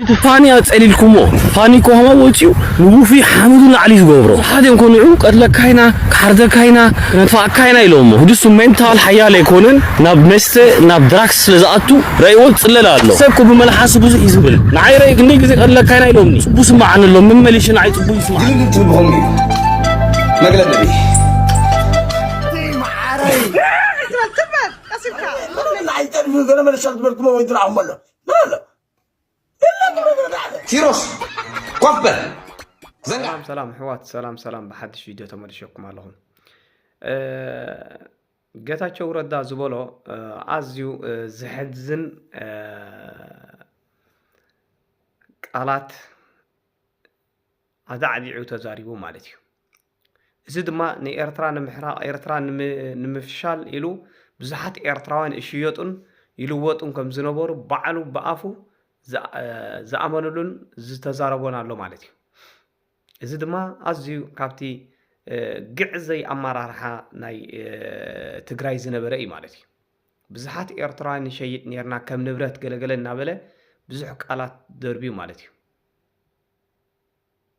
እቲ ፋኒ ኣጸሊልኩሞ ፋኒ ኮማ ወጺኡ ንውፉይ ሓመዱ ናዕሊ ዝገብሮ ብዙሓት እዮም እኮ ንዑ ክንቀትለካ ኢና ክሓርደካ ኢና ክነጥፍኣካ ኢና ኢሎሞ ህድሱ ሜንታል ሓያል ኣይኮነን ናብ መስተ ናብ ድራክስ ስለ ዝኣቱ ረእዎ ዝጽለል ኣሎ ሰብ እኮ ብመልሓሱ ብዙሕ እዩ ዝብል ንዓይ ረኢ ክንደይ ግዜ ክቀትለካ ኢና ኢሎምኒ ጽቡ ስምዓኒ ኣሎ መመሊሺ ንዓይ ጽቡ ይስምዓኒ ግርግር ትብል ብኸምኡ እዩ መግለጺ ኣይጠልፍን ገለ መለሻ ዝበልኩሞ ወይ ትርኣኹሞ ኣሎ ምን ኣሎ ቲሮስ ኮፍ በል ሰላም ሰላም ሕዋት ሰላም ሰላም ብሓድሽ ቪድዮ ተመልሸኩም ኣለኹ ገታቸው ረዳ ዝበሎ ኣዝዩ ዘሕዝን ቃላት ኣዛዕዚዑ ተዛሪቡ ማለት እዩ እዚ ድማ ንኤርትራ ንምሕራቕ ኤርትራ ንምፍሻል ኢሉ ብዙሓት ኤርትራውያን ይሽየጡን ይልወጡን ከም ዝነበሩ ባዕሉ ብኣፉ ዝኣመንሉን ዝተዛረቦን ኣሎ ማለት እዩ። እዚ ድማ ኣዝዩ ካብቲ ግዕዘይ ኣመራርሓ ናይ ትግራይ ዝነበረ እዩ ማለት እዩ። ብዙሓት ኤርትራውያን ንሸይጥ ነርና ከም ንብረት ገለገለ እናበለ ብዙሕ ቃላት ደርብዩ ማለት እዩ።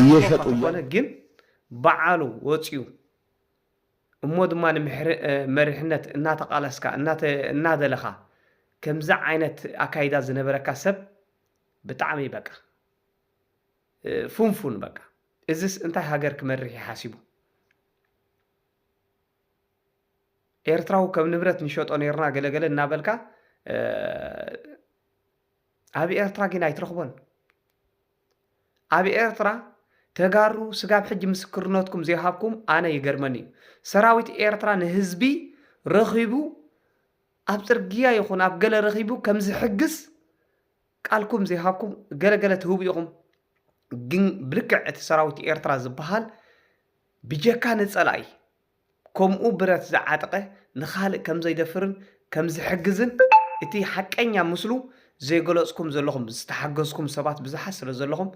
እየሸጡ እየም። እንተኾነ ግን በዓሉ ወፅዩ እሞ ድማ ንመሪሕነት እናተቓለስካ እናደለኻ ከምዚ ዓይነት ኣካይዳ ዝነበረካ ሰብ ብጣዕሚ በቃ ፉንፉን በቃ እዝስ እንታይ ሃገር ክመርሕ እዩ ሓሲቡ? ኤርትራዊ ከም ንብረት ንሸጦ ኔርና ገለገለ እናበልካ ኣብ ኤርትራ ግን ኣይትረኽቦን። ኣብ ኤርትራ ተጋሩ ስጋብ ሕጂ ምስክርነትኩም ዘይሃብኩም ኣነ ይገርመኒ እዩ። ሰራዊት ኤርትራ ንህዝቢ ረኺቡ ኣብ ጽርግያ ይኹን ኣብ ገለ ረኺቡ ከም ዝሕግዝ ቃልኩም ዘይሃብኩም ገለገለ ትህቡ ኢኹም። ግን ብልክዕ እቲ ሰራዊት ኤርትራ ዝበሃል ብጀካ ንጸላኢ ከምኡ ብረት ዝዓጠቐ ንኻልእ ከም ዘይደፍርን ከም ዝሕግዝን እቲ ሓቀኛ ምስሉ ዘይገለጽኩም ዘለኹም ዝተሓገዝኩም ሰባት ብዝሓት ስለ ዘለኹም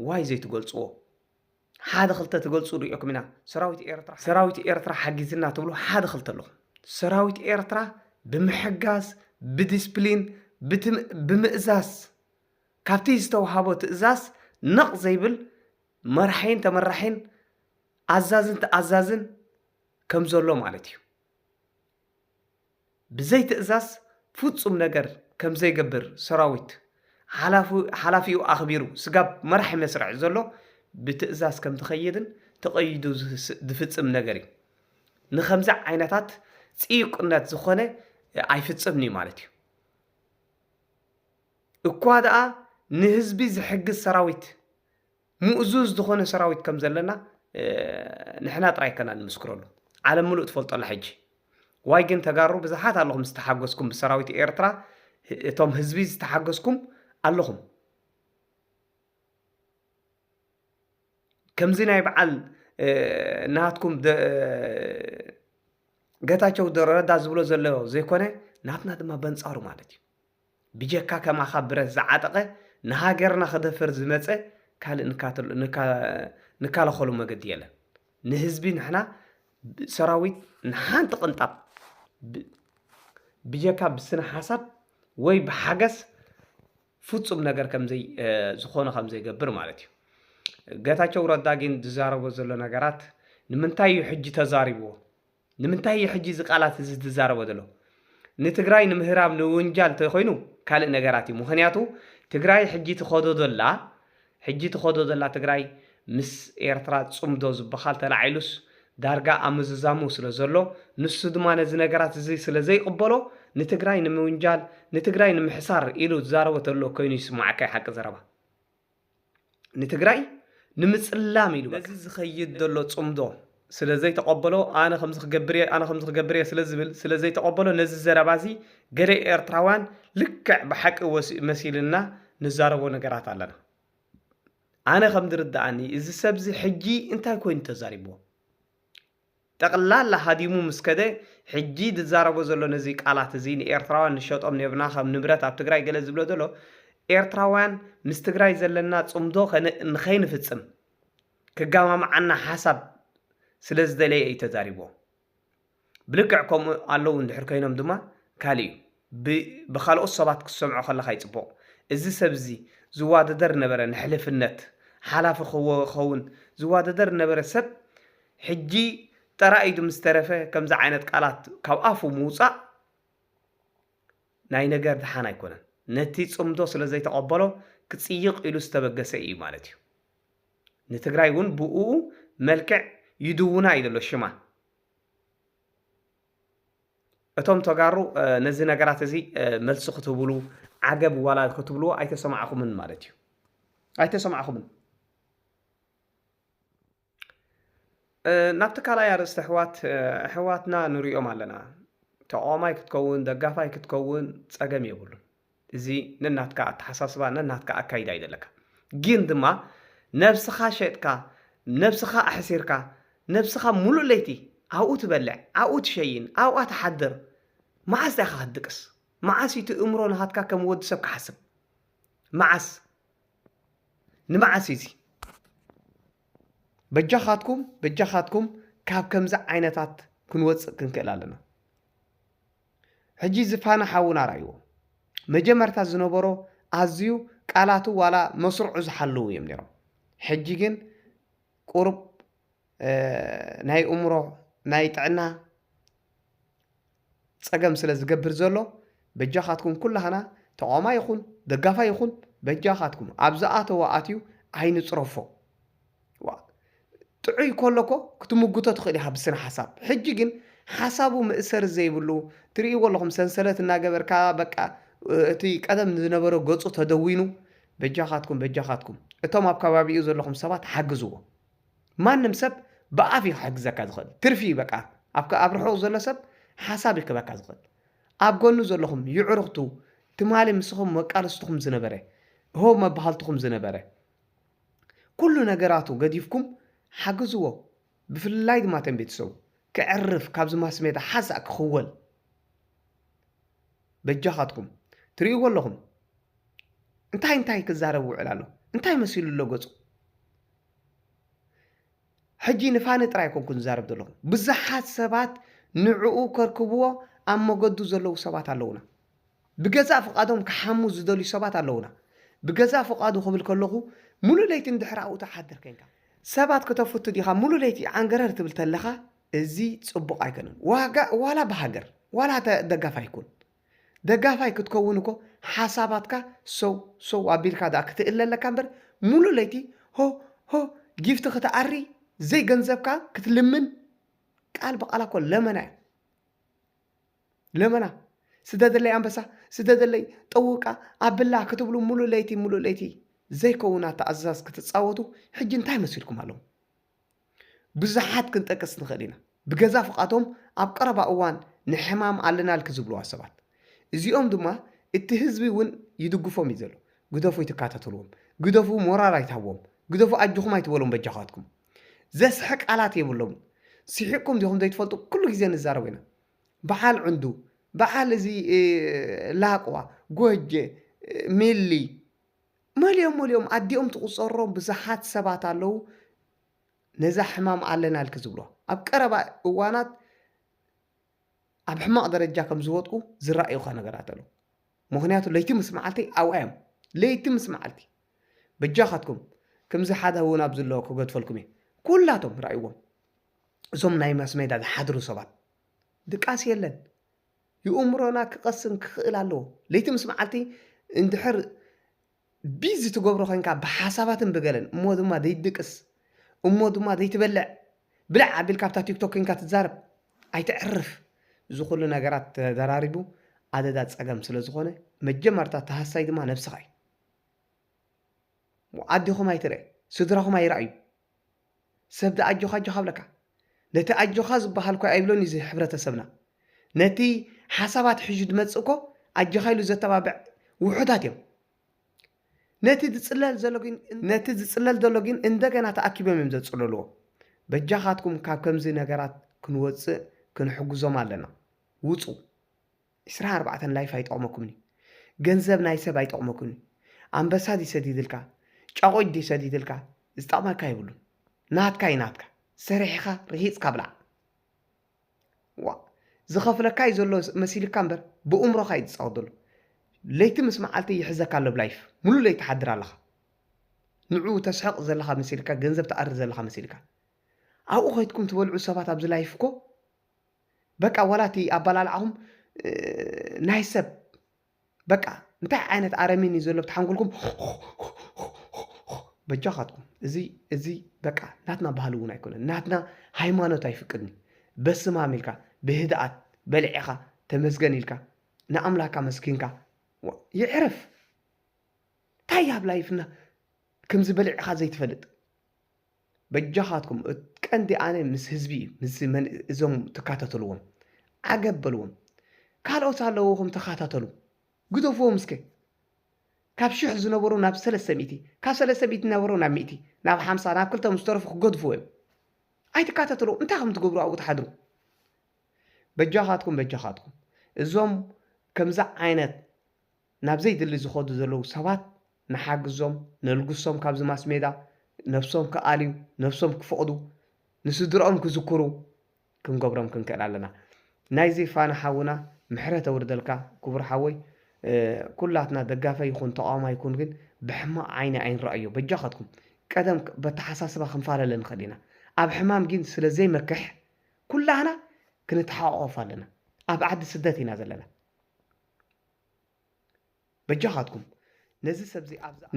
ዋይ ዘይትገልጽዎ ሓደ ክልተ ትገልጹ ሪኦኩም ኢና ሰራዊት ኤርትራ ሰራዊት ኤርትራ ሓጊዝና ትብሉ ሓደ ክልተ ኣለኹም ሰራዊት ኤርትራ ብምሕጋዝ ብዲስፕሊን ብምእዛዝ ካብቲ ዝተውሃቦ ትእዛዝ ነቕ ዘይብል መራሒን ተመራሒን ኣዛዝን ተኣዛዝን ከም ዘሎ ማለት እዩ። ብዘይ ትእዛዝ ፍፁም ነገር ከም ዘይገብር ሰራዊት ሓላፊኡ ኣኽቢሩ ስጋብ መራሒ መስርዕ ዘሎ ብትእዛዝ ከም ዝኸይድን ተቐይዱ ዝፍፅም ነገር እዩ። ንከምዚ ዓይነታት ፅዩቅነት ዝኾነ ኣይፍፅምን እዩ ማለት እዩ። እኳ ደኣ ንህዝቢ ዝሕግዝ ሰራዊት፣ ምእዙዝ ዝኾነ ሰራዊት ከም ዘለና ንሕና ጥራይ ከና ንምስክረሉ። ዓለም ምሉእ ትፈልጦ ኣላ ሕጂ። ዋይ ግን ተጋሩ ብዝሓት ኣለኹም ዝተሓገዝኩም ብሰራዊት ኤርትራ እቶም ህዝቢ ዝተሓገዝኩም ኣለኹም። ከምዚ ናይ በዓል ናትኩም ገታቸው ረዳ ዝብሎ ዘሎ ዘይኮነ ናትና ድማ በንጻሩ ማለት እዩ ብጀካ ከማካ ብረት ዝዓጠቀ ንሃገርና ክደፍር ዝመጸ ካልእ ንካለከሎ መገዲ የለን ንህዝቢ ንሕና ሰራዊት ንሓንቲ ቅንጣብ ብጀካ ብስነ ሓሳብ ወይ ብሓገስ ፍጹም ነገር ከምዘይ ዝኾነ ከምዘይገብር ማለት እዩ ገታቸው ረዳ ግን ዝዛረቦ ዘሎ ነገራት ንምንታይ እዩ ሕጂ ተዛሪብዎ ንምንታይ እዩ ሕጂ እዚ ቃላት እዚ ዝትዛረቦ ዘሎ ንትግራይ ንምህራም ንውንጃል ተይኮይኑ ካልእ ነገራት እዩ ምክንያቱ ትግራይ ሕጂ ትከዶ ዘላ ሕጂ ትከዶ ዘላ ትግራይ ምስ ኤርትራ ጽምዶ ዝብካል ተላዒሉስ ዳርጋ ኣብ ምዝዛሙ ስለ ዘሎ ንሱ ድማ ነዚ ነገራት እዚ ስለ ዘይቅበሎ ንትግራይ ንምውንጃል ንትግራይ ንምሕሳር ኢሉ ዝዛረቦ ተሎ ኮይኑ ይስማዓካ እዩ ሓቂ ዘረባ ንትግራይ ንምፅላም ኢሉ በቃ። ነዚ ዝኸይድ ዘሎ ፅምዶ ስለ ዘይተቐበሎ፣ ኣነ ከምዚ ክገብር እየ፣ ኣነ ከምዚ ክገብር እየ ስለ ዝብል ስለ ዘይተቐበሎ ነዚ ዘረባ እዚ ገለ ኤርትራውያን ልክዕ ብሓቂ መሲሉና ንዛረቦ ነገራት ኣለና። ኣነ ከም ዝርድኣኒ እዚ ሰብ እዚ ሕጂ እንታይ ኮይኑ ተዛሪብዎ? ጠቕላላ ሃዲሙ ምስ ከደ ሕጂ ዝዛረቦ ዘሎ ነዚ ቃላት እዚ ንኤርትራውያን ንሸጦም ኔርና ከም ንብረት ኣብ ትግራይ ገለ ዝብሎ ዘሎ ኤርትራውያን ምስ ትግራይ ዘለና ጽምዶ ንኸይንፍጽም ክጋማምዓና ሓሳብ ስለ ዝደለየ እዩ ተዛሪብዎ ብልክዕ ከምኡ ኣለዉ እንድሕር ኮይኖም ድማ ካልእ እዩ። ብ ብካልኦት ሰባት ክትሰምዖ ከለካ ዩ ጽቡቅ እዚ ሰብ እዚ ዝዋደደር ነበረ ንሕልፍነት ሓላፊ ክከውን ዝዋደደር ነበረ ሰብ ሕጂ ጠራ ኢዱ ምስ ተረፈ ከምዚ ዓይነት ቃላት ካብ ኣፉ ምውጻእ ናይ ነገር ድሓን ኣይኮነን ነቲ ጽምዶ ስለ ዘይተቀበሎ ክጽይቅ ኢሉ ዝተበገሰ ኢዩ ማለት ኢዩ ንትግራይ ውን ብኡኡ መልክዕ ይድውና ኢዩ ዘሎ ሽማ እቶም ተጋሩ ነዚ ነገራት እዚ መልሲ ክትህብሉ ዓገብ ዋላ ክትብልዎ ኣይተሰማዕኹምን ማለት እዩ ኣይተሰማዕኹምን ናብቲ ካልኣይ ኣርእስቲ ኣሕዋት ኣሕዋትና ንሪኦም ኣለና ተቃዋማይ ክትከውን ደጋፋይ ክትከውን ፀገም የብሉን እዚ ነናትካ ኣተሓሳስባ ነናትካ ኣካይዳ እዩ ዘለካ ግን ድማ ነብስኻ ሸጥካ ነብስኻ ኣሕሲርካ ነብስኻ ሙሉእ ለይቲ ኣብኡ ትበልዕ ኣብኡ ትሸይን ኣብኣ ትሓድር መዓስ ዳኻ ክትድቅስ መዓስ እዩ ትእምሮ ናሃትካ ከም ወዲ ሰብ ክሓስብ መዓስ ንመዓስ እዩ እዚ በጃኻትኩም በጃኻትኩም ካብ ከምዚ ዓይነታት ክንወፅእ ክንክእል ኣለና ሕጂ እዚ ፋና ሓውና ራይዎ መጀመርታ ዝነበሮ ኣዝዩ ቃላቱ ዋላ መስርዑ ዝሓልው እዮም ነይሮም ሕጂ ግን ቁሩብ ናይ እምሮ ናይ ጥዕና ፀገም ስለ ዝገብር ዘሎ በጃኻትኩም ኩላህና ተቋማ ይኹን ደጋፋ ይኹን በጃኻትኩም ኣብ ዝኣተዎ ኣትዩ ኣይንፅረፎ ዋእ ጥዑይ ኮሎ እኮ ክትሙጉቶ ትኽእል ኢኻ ብስነ ሓሳብ ሕጂ ግን ሓሳቡ መእሰሪ ዘይብሉ ትርእይዎ ኣለኹም ሰንሰለት እናገበርካ በቃ እቲ ቀደም ዝነበረ ገጹ ተደዊኑ በጃኻትኩም በጃኻትኩም እቶም ኣብ ከባቢኡ ዘለኹም ሰባት ሓግዝዎ ማንም ሰብ ብኣፍ እዩ ክሕግዘካ ዝኽእል ትርፊ እዩ በቃ ኣብ ኣብ ርሑቕ ዘሎ ሰብ ሓሳብ እዩ ክበካ ዝኽእል ኣብ ጎኑ ዘለኹም ይዕሩኽቱ ትማሊ ምስኹም መቃልስትኹም ዝነበረ ሆ መባሃልትኹም ዝነበረ ኩሉ ነገራቱ ገዲፍኩም ሓግዝዎ ብፍላይ ድማ ተን ቤተሰቡ ክዕርፍ ካብዚ ማስሜዳ ሓንሳእ ክኽወል በጃኻትኩም ትሪእዎ ኣለኹም እንታይ እንታይ ክዛረብ ውዕል ኣሎ እንታይ መሲሉ ኣሎ ገጹ ሕጂ ንፋኒ ጥራይ ኣይኮንኩን ዝዛረብ ዘለኹ ብዙሓት ሰባት ንዕኡ ከርክብዎ ኣብ መገዱ ዘለዉ ሰባት ኣለዉና ብገዛእ ፍቃዶም ክሓሙ ዝደልዩ ሰባት ኣለዉና ብገዛእ ፍቃዱ ክብል ከለኹ ሙሉእ ለይቲ ንድሕሪ ኣብኡ ትሓድር ኮንካ ሰባት ክተፍቱ ዲኻ ሙሉእ ለይቲ ዓንገረር ትብል ተለኻ እዚ ጽቡቅ ኣይኮነን ዋጋ ዋላ ብሃገር ዋላ ደጋፋይ ኩን ደጋፋይ ክትከውን እኮ ሓሳባትካ ሰው ሰው ኣቢልካ ድኣ ክትእለ ኣለካ እምበር ሙሉእ ለይቲ ሆ ሆ ጊፍቲ ክትኣሪ ዘይገንዘብካ ክትልምን ቃል ብቓላ እኮ ለመና እዩ ለመና ስደደለይ ኣንበሳ ስደደለይ ጠውቃ ኣብላ ክትብሉ ሙሉእ ለይቲ ሙሉእ ለይቲ ዘይከውን ኣተኣዝዛዝ ክትፃወቱ ሕጂ እንታይ መሲልኩም ኣለዉ ብዙሓት ክንጠቅስ ንኽእል ኢና፣ ብገዛእ ፍቓዶም ኣብ ቀረባ እዋን ንሕማም ኣለናልኪ ዝብልዋ ሰባት። እዚኦም ድማ እቲ ህዝቢ እውን ይድግፎም እዩ ዘሎ። ግደፉ ኣይትከታተልዎም፣ ግደፉ ሞራል ኣይትሃብዎም፣ ግደፉ ኣጆኹም ኣይትበሎም በጃኻትኩም። ዘስሕቕ ቃላት የብሎምን። ስሒቕኩም ዲኹም ዘይትፈልጡ ኩሉ ግዜ ንዛረብ ኢና። በዓል ዕንዱ፣ በዓል እዚ ላቕዋ፣ ጎጀ፣ ሚሊ፣ መሊኦም መሊኦም ኣዲኦም ትቁጸሮም ብዙሓት ሰባት ኣለዉ ነዛ ሕማም ኣለናልኪ ዝብሎ ኣብ ቀረባ እዋናት ኣብ ሕማቅ ደረጃ ከም ዝወጥቁ ዝራእዩካ ነገራት ኣለዉ ምክንያቱ ለይቲ ምስ መዓልቲ ኣብኣ እዮም ለይቲ ምስ መዓልቲ በጃካትኩም ከምዚ ሓደ እውን ኣብዚ ኣሎ ክገድፈልኩም እየ ኩላቶም ራእይዎም እዞም ናይ ማስሜዳ ዝሓድሩ ሰባት ድቃስ የለን ይእምሮና ክቐስን ክኽእል ኣለዎ። ለይቲ ምስ መዓልቲ እንድሕር ቢዚ ትገብሮ ኮንካ ብሓሳባትን ብገለን እሞ ድማ ዘይትድቅስ እሞ ድማ ዘይትበልዕ ብልዕ ኣቢልካ ኣብታ ቲክቶክ ኮንካ ትዛረብ ኣይተዕርፍ እዚ ኩሉ ነገራት ተደራሪቡ ኣደዳ ፀገም ስለ ዝኾነ መጀመርታ ተሃሳይ ድማ ነብስኻ እዩ። ኣዴኹም ኣይትርእ ስድራኹም ኣይረኣዩ ሰብ ድኣ ኣጆኻ ኣጆኻ ኣብለካ ነቲ ኣጆኻ ዝባሃል እኮ ኣይብሎን እዩ እዚ ሕብረተሰብና ነቲ ሓሳባት ሒዙ ድመጽእ እኮ ኣጆኻ ኢሉ ዘተባብዕ ውሑዳት እዮም ነቲ ዝጽለል ዘሎ ግን ነቲ ዝጽለል ዘሎ ግን እንደገና ተኣኪቦም እዮም ዘጽለልዎ በጃኻትኩም ካብ ከምዚ ነገራት ክንወጽእ ክንሕግዞም ኣለና ውጹ ዕስራ ኣርባዕተ ላይፍ ኣይጠቅመኩምን እዩ ገንዘብ ናይ ሰብ ኣይጠቅመኩምን እዩ ኣንበሳ ድዩ ሰዲድልካ ጫቁጭ ድዩ ሰዲድልካ ዝጠቅመካ የብሉን ናትካ እዩ ናትካ ሰሪሕኻ ርሂጽካ ብላዕ ዋ ዝኸፍለካ እዩ ዘሎ መሲልካ እምበር ብእምሮኻ እዩ ዝጻወት ዘሎ ለይቲ ምስ መዓልቲ ይሕዘካ ኣሎ ብላይፍ ሙሉ ለይቲ ትሓድር ኣለኻ ንዑ ተስሕቕ ዘለኻ መሲልካ ገንዘብ ትኣሪ ዘለኻ መሲልካ ኣብኡ ከይትኩም ትበልዑ ሰባት ኣብዚ ላይፍ እኮ በቃ ዋላ እቲ ኣባላልዓኹም ናይ ሰብ በቃ እንታይ ዓይነት ኣረሚን እዩ ዘሎ ብትሓንጉልኩም በጃኻትኩም እዚ እዚ በቃ ናትና ባህሊ እውን ኣይኮነን ናትና ሃይማኖት ኣይፍቅድን በስማም ኢልካ ብህድኣት በልዒኻ ተመስገን ኢልካ ንኣምላካ መስኪንካ ይዕረፍ እንታይ ኣብ ላይፍና ከምዚ በልዕኻ ዘይትፈልጥ በጃኻትኩም ቀንዲ ኣነ ምስ ህዝቢ ምስ እዞም ትካታተልዎም ዓገብ በልዎም ካልኦት ኣለውኹም ተኻታተሉ ግደፍዎም እስከ ካብ ሽሕ ዝነበሩ ናብ ሰለስተ ሚእቲ ካብ ሰለስተ ሚእቲ ዝነበሩ ናብ ሚእቲ ናብ ሓምሳ ናብ ክልተ ምስ ተረፉ ክገድፍዎ እዮም ኣይትካታተሉ እንታይ ከም ትገብሩ ኣብኡ ትሓድሩ በጃኻትኩም በጃኻትኩም እዞም ከምዚ ዓይነት ናብ ዘይድሊ ዝኸዱ ዘለዉ ሰባት ንሓግዞም ነልግሶም ካብዚ ማስሜዳ ነብሶም ክኣልዩ ነብሶም ክፍቕዱ ንስድርኦም ክዝክሩ ክንገብሮም ክንክእል ኣለና ናይዚ ፋና ሓውና ምሕረት ኣውርደልካ ክቡር ሓወይ ኩላትና ደጋፈ ይኹን ተቓዋማይ ይኩን ግን ብሕማቕ ዓይኒ ኣይንረኣዮ በጃኻትኩም ቀደም በተሓሳስባ ክንፋለለ ንኽእል ኢና ኣብ ሕማም ግን ስለ ዘይመክሕ ኩላህና ክንተሓቋቖፍ ኣለና ኣብ ዓዲ ስደት ኢና ዘለና በጃኻትኩም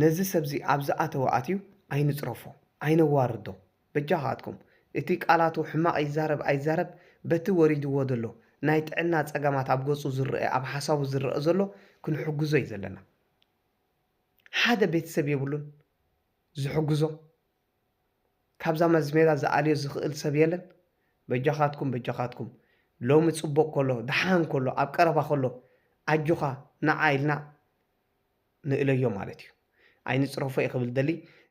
ነዚ ሰብዚ ኣብ ዝኣተወ ኣትዩ ኣይንጽረፎ ኣይነዋርዶ በጃኻትኩም እቲ ቃላቱ ሕማቕ ይዛረብ ኣይዛረብ በቲ ወሪድዎ ዘሎ ናይ ጥዕና ጸገማት ኣብ ገጹ ዝረኣ ኣብ ሓሳቡ ዝረኣ ዘሎ ክንሕግዞ እዩ ዘለና ሓደ ቤተሰብ የብሉን ዝሕግዞ ካብዛ መዝሜራ ዝኣልዮ ዝኽእል ሰብ የለን በጃኻትኩም በጃኻትኩም ሎሚ ጽቡቕ ከሎ ደሓን ከሎ ኣብ ቀረባ ከሎ ኣጆኻ ንዓ ኢልና ንእለዮ ማለት እዩ ኣይንጽረፎ እየ ክብል ደሊ